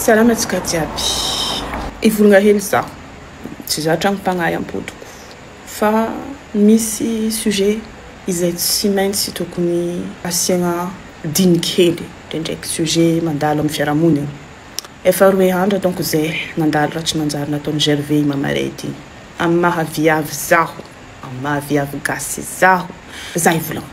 Salama antsika jiaby. Hivolgna hely za. Tsy za tragno mpagnahy ampodiko fa misy sujet izay tsy maintsy tokony asiagna diny kely ndraindraiky sujet mandalo amin'ny fiarahamonigny. Efa roe andro donc zay nandalo raha tsy nanjary nataon'i Gervais i Mamarey ity. Amin'ny maha viavy zaho, amin'ny maha viavy gasy zaho, za hivolagna.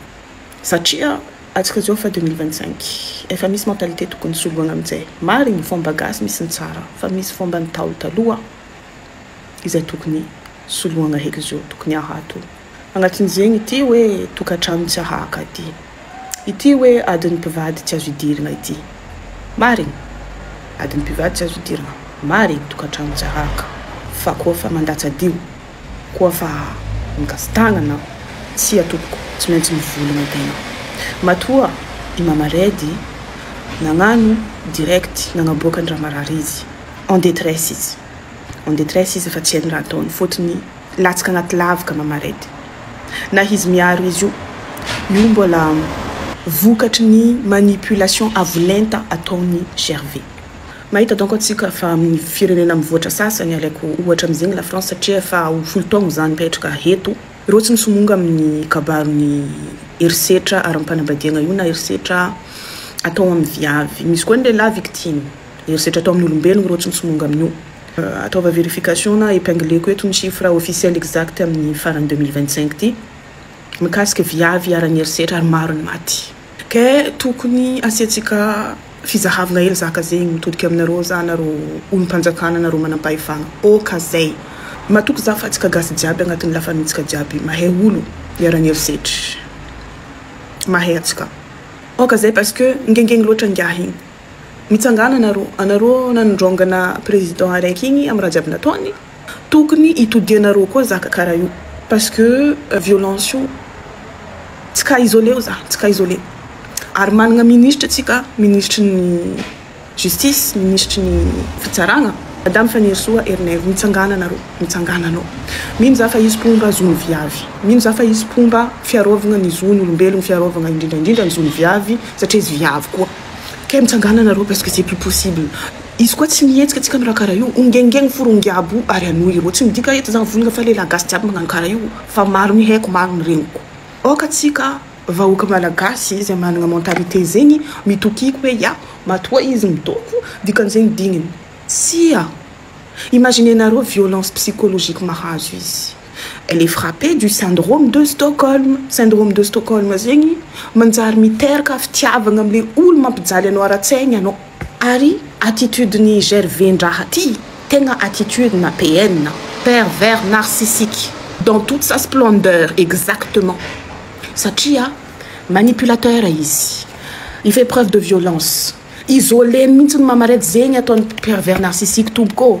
Satria atsika izao efa deux mille vingt cinq efa misy mentalité tokony soloina amin'izay. Marina fomba gasy misy ny tsara fa misy fomba ny ntaolo taloha izay tokony soloina heky izao tokony ahato agnatin'izegny ity hoe tokatrano tsy ahaka ity ity hoe adin'ny mpivady tsy azo idirina ity marina adin'ny mpivady tsy azo idirina marina tokatrano tsy ahaka fa koa fa mandatsa-dio Koa fa migasi-tàna anao. Tsia tompoko, tsy maintsy mivoly ny tenao. Matoa i Mama Redy nagnano direct, nagnaboaka an-dRamarary izy. En détresse izy. En détresse izy fa tsy hainy raha ataony fotony latsaka agnaty lavaka Mama Redy. Na izy miaro izy io, io mbola vokatry ny manipulation avo lenta ataony Gervais. Mahita donc antsika fa amin'ny firenena mivoatra sasany, alaiko ohatra amin'izegny la France satria efa ho folo taogno za nipetraka eto, reo tsy misomonga amin'ny kabaron'ny herisetra ara-panambadiagna io na herisetra atao amin'ny viavy, misy koa ny lehilahy victime herisetra atao amin'olombelogno reo tsy misomonga amin'io. Ataova verification na epingleko eto ny chiffre officiel exact amin'ny faran'ny deux mille vingt cinq ty mikasika viavy iharan'ny herisetra ary maro ny maty. Ke tokony asiantsika fizahavna hely zaka zegny mitodika aminareo za nareo olompanjakana nareo manampahefana ok zay matoky za fa tsika gasy jiaby agnatiny la famille tsika jiaby mahay olo iarany herisetry mahay atsika ok zay parce que ngengegny loatra ngiahy igny mitsangana anareo anareo nanondrongana president araiky igny amy raha jiaby nataony Tokony hitodianareo koa zaka kara io parce que violence io tsy cas isolé io zany tsy cas isolé ary managna ministra tsika ministry ny justice ministry ny fitsaragna madame Fanirisoa Herinaivo mitsangana nareo mitsangana anao mino za fa izy mpomba zony viavy mino za fa izy mpomba fiarovagna ny zony olombelogno fiarovagna indrindra indrindra ny zony viavy satria izy viavy koa kay mitsangana nareo parce que c'est plus possible Izy koa tsy mihetsika antsika anareo kara io ongengeng forongy abo ary anoi ireo tsy midika eto za vonona fa lehilahy gasy jiaby magnano kara io fa maro ny haiko maro ny reniko aoka tsika vahoaka malagasy zay managna mentalite zegny mitokiko hoe ya matoa izy midoko dikanzegny digniny tsia imagine nareo violence psychologique mahazo izy elle est frappee du syndrome de Stockholm syndrome de Stockholm zegny manjary miteraka fitiavagna amle olo mampijaly anao aratsaigny anao. Ary attitude ny gervais ndraha ty tegna attitude na PN, pervers narcissique dans toute sa splendeur exactement satria manipulateur izy il fait preuve de violence isolé-ny mintsy ny mamarety zegny ataony pervers narcissique tompoko ô.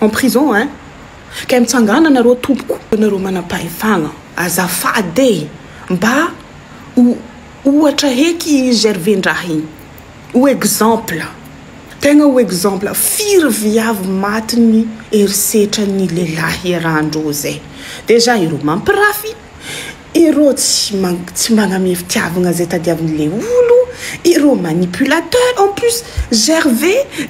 en prison hein kay mitsangana nareo tompoko nareo manampahefagna azafady e mba ho ohatra heky i Gervais ndraha igny ho exemple tegna ho exemple firy viavy matin'ny herisetran'ny lehilahy iarahandreo zay dejà ireo mampirafy Ireo tsy tsy magname fitiavagna zay tadiaviny le olo, ireo manipulateur en plus GRV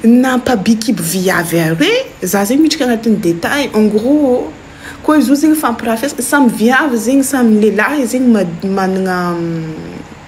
nampabikiby viavy are, za zegny miditra agnatin'ny detail en gros ô, koa izy io zegny fampirafesana samy viavy zegny samy lehilahy zegny magnana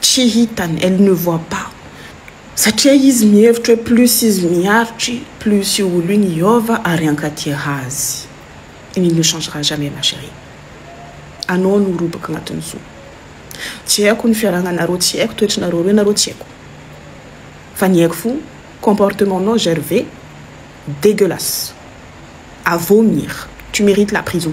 Tsy hitany, elle ne voit pas, satria izy mihevitra hoe plus izy miaritry, plus io olo io niova ary hankatia azy. Il ne changera jamais ma cherie. Anao no roboka agnatin'ny zo. Tsy haiko ny fiarahagnanareo, tsy haiko toetrinareo roe nareo, tsy haiko. Fa ny haiko fo, comportement-nao Gervais, dégueulasse. À vomir. Tu mérites la prison.